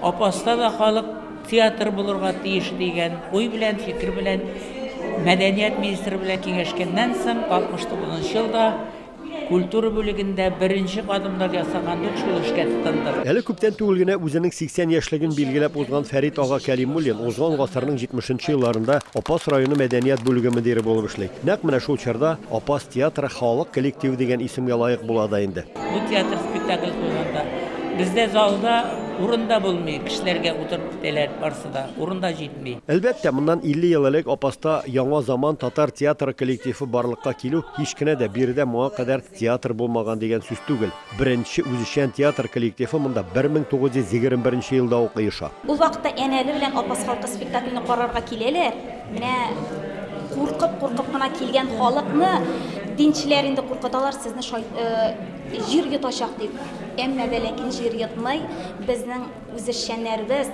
Апаста да халык театры булырга тиеш дигән уй белән, фикер белән мәдәният министры белән киңәшкәннән соң 69 елда культура бүлегендә беренче кадымнар ясагандук шул эшкә тотындык. Әле күптән түгел генә үзенең 80 яшьлеген билгеләп узган Фәрит ага Кәлимуллин узган гасырның 70 нче елларында Апас районы мәдәният бүлеге мөдире булып эшли. Нәкъ менә шул чорда Апас театры халык коллективы дигән исемгә лаек була да инде. Бу театр спектакль куйганда бездә залда урын да булмый, кешеләргә утырып китәләр барсы да, урын да җитми. Әлбәттә, моннан 50 ел элек Апаста яңа заман татар театры коллективы барлыкка килү һич кенә дә биредә моңа кадәр театр булмаган дигән сүз түгел. Беренче үзешчән театр коллективы монда 1921 елда ук оеша. Ул вакытта әнә әле белән Апас халкы спектакльне карарга киләләр. Менә куркып куркып кына килгән халыкны динчеләр инде куркыталар сезне шай, э, җир йотачак дип. Әмма дә ләкин җир йотмый. Безнең үзешчәннәребез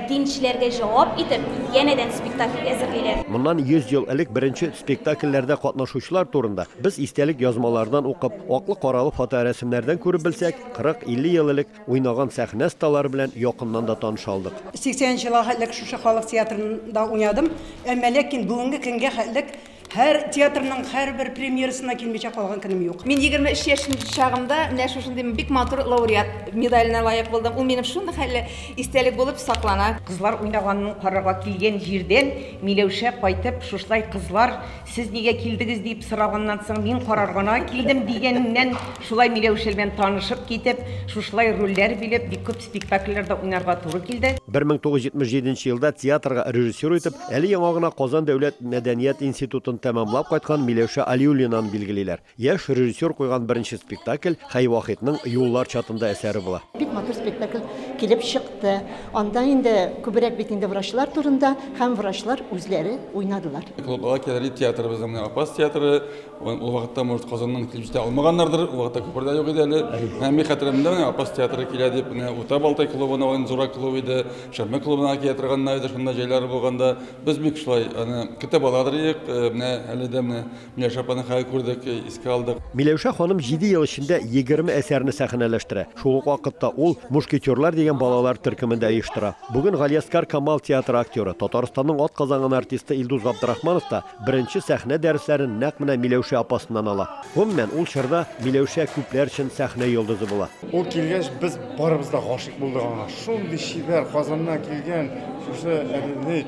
динчеләргә җавап итеп янәдән спектакль әзерлиләр. Моннан 100 ел элек беренче спектакльләрдә катнашучылар турында без истәлек язмалардан укып, аклы-каралы фоторәсемнәрдән күреп белсәк, 40-50 ел элек Уйнаган сәхнә сталары белән якыннан да таныша алдык. 80 нче елга хәтлек шушы халык театрында уйнадым, әмма ләкин бүгенге көнгә хәтлек һәр театрның һәрбер премьерасына килмичә калган көнем юк. Мин 23 яшь чагымда менә шушындый бик матур лауреат медаленә лаек булдым. Ул минем шундый хәлле истәлек булып саклана. Кызлар уйнаганын карарга килгән җирдән Миләүшә кайтып шушылай кызлар Сез нигә килдегез дип сораганнан соң, мин карар гына килдем дигәннән, шулай Миләүшә белән танышып китеп, шушылай рольләр билеп, бик күп спектакльләрдә уйнарга туры килде. 1977 нче елда театрга режиссер итеп, әле яңа гына Казан дәүләт мәдәният институтын тәмамлап кайткан Миләүшә Алиуллинаны билгелиләр. Яшь режиссер куйган беренче спектакль Хәй Вахитның Юллар чатында әсәре була. Бик матур спектакль килеп чыкты. Анда инде күбрәк бит инде врачлар турында һәм врачлар үзләре уйнадылар. Клуб Бала кәләли театрыбызның менә Апас театры. Ул вакытта, может, Казаннан килеп җитә алмаганнардыр, ул вакытта күпер дә юк иде әле. Ә мин хәтеремдә менә Апас театры килә дип, менә Урта Балтай клубына, ул инде зуррак клуб иде, Шәммә клубына килә торганнар иде шунда җәйләре булганда. Без бик шулай аны көтеп ала тордык. Менә әле дә менә Миләүшә апаның хәлен күрдек, искә алдык. Миләүшә ханым җиде ел эчендә егерме әсәрне сәхнәләштерә. Шул ук вакытта ул Мушкетерлар дигән балалар төркемен дә оештыра. Бүген Галиәскар Камал театры актеры, Татарстанның атказанган артисты Илдус Габдрахманов та беренче сәхнә дәресләрен нәкъ менә Миләүшә апасыннан ала. Гомумән, ул чорда Миләүшә күпләр өчен сәхнә йолдызы була. Ул килгәч, без барыбыз да гашыйк булдык аңа. Шундый чибәр Казаннан килгән шушы әбине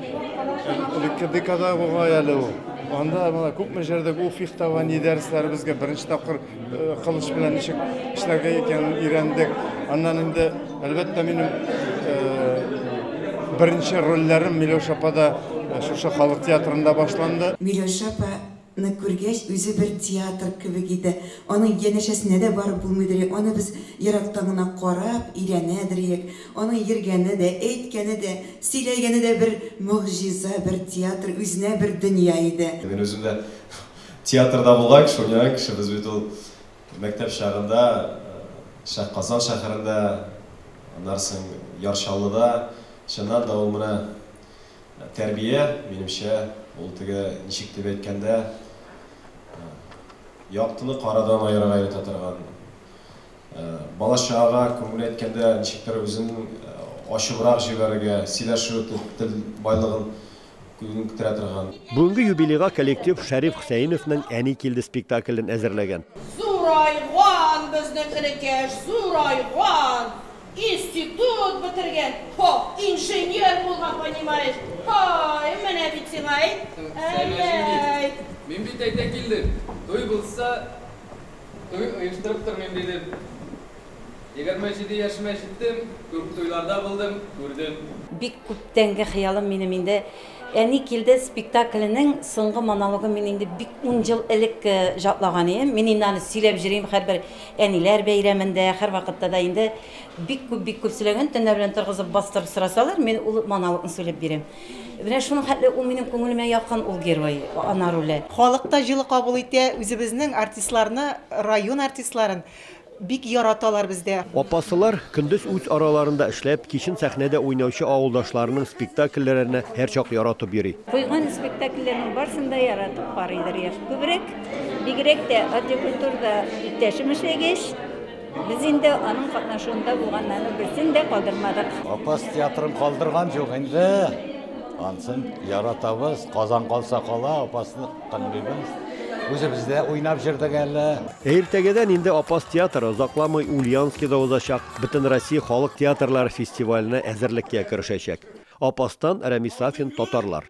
элекке декада бугай әле ул. Анда менә күпме җирдә бу фехтование дәресләре безгә беренче тапкыр э, кылыч белән ничек эшләргә икәнен өйрәндек. Аннан инде әлбәттә минем э, беренче рольләрем Миләүшә апада э, шушы халык театрында башланды. Миләүшә апа Ны күргәч, үзе бер театр кебек иде. Аның янәшәсенә дә барып булмыйдыри, аны без ерактан гына карап, өйрәнәдриек. Аның йөргәне дә, әйткәне дә, сөйләгәне дә бер могҗиза, бер театр, үзенә бер дөнья иде. Мин үзем дә театрда булган кеше, уйнаган кеше. Без бит ул мәктәп чагында Шәһ Казан шәһәрендә, аннары соң Яр Чаллыда, чыннан да ул менә Тәрбия, минемчә, ул теге, ничек дип әйткәндә, яктыны карадан аерырга өйрәтә торган, бала-чагага күңел әйткәндә, ничектер үзен ачыбрак җибәрергә, сөйләшү тел байлыгын күнектерә торган. Бүгенге юбилейга коллектив Шәриф Хөсәеновның Әни килде спектаклен әзерләгән. Зурайган безнең энекәш, зурайган! Институт бетергән, һо, инженер булган, понимаешь, һай, менә бит сиңа, әйт, әй-әй. Мин бит әйтә килдем, туй булса, туй оештырып тормыйм дидем. Егерме җиде яшемә җиттем, күп туйларда булдым, күрдем. Бик күптәнге хыялым минем инде. Әни килде спектакленең соңгы монологын мин инде бик ун ел элек җатлаган идем. Мин инде аны сөйләп җөрим һәрбер әниләр бәйрәмендә, һәрвакытта да инде бик күп, бик күп сөйләгән. Төннәр белән торгызып, бастырып сорасалар, мин ул монологны сөйләп бирәм. Менә шуның хәтле ул минем күңелемә якын ул герой, ана роле. Халык та җылы кабул итә, үзебезнең артистларны, район артистларын Бик яраталар бездә. Апасылар, көндез үз араларында эшләп, кичен сәхнәдә уйнаучы авылдашларының спектакльләренә һәрчак яратып йөри. Куйган спектакльләрнең барсын да яратып карыйдыр яшь күбрәк. Бигрәк тә Атҗокультурда иптәшем эшләгәч, без инде аның катнашуында булганнарның берсен дә калдырмадык. Апас театрын калдырган җук инде. Ансын яратабыз. Казан калса кала, Апасны. Тыңлыйбыз. Үзебез дә уйнап җырдык әле. Ә иртәгәдән инде Апас театры озакламый Ульяновскида узачак Бөтенроссия халык театрлары фестиваленә әзерлеккә керешәчәк. Апастан Рәмис Сафин, Татарлар.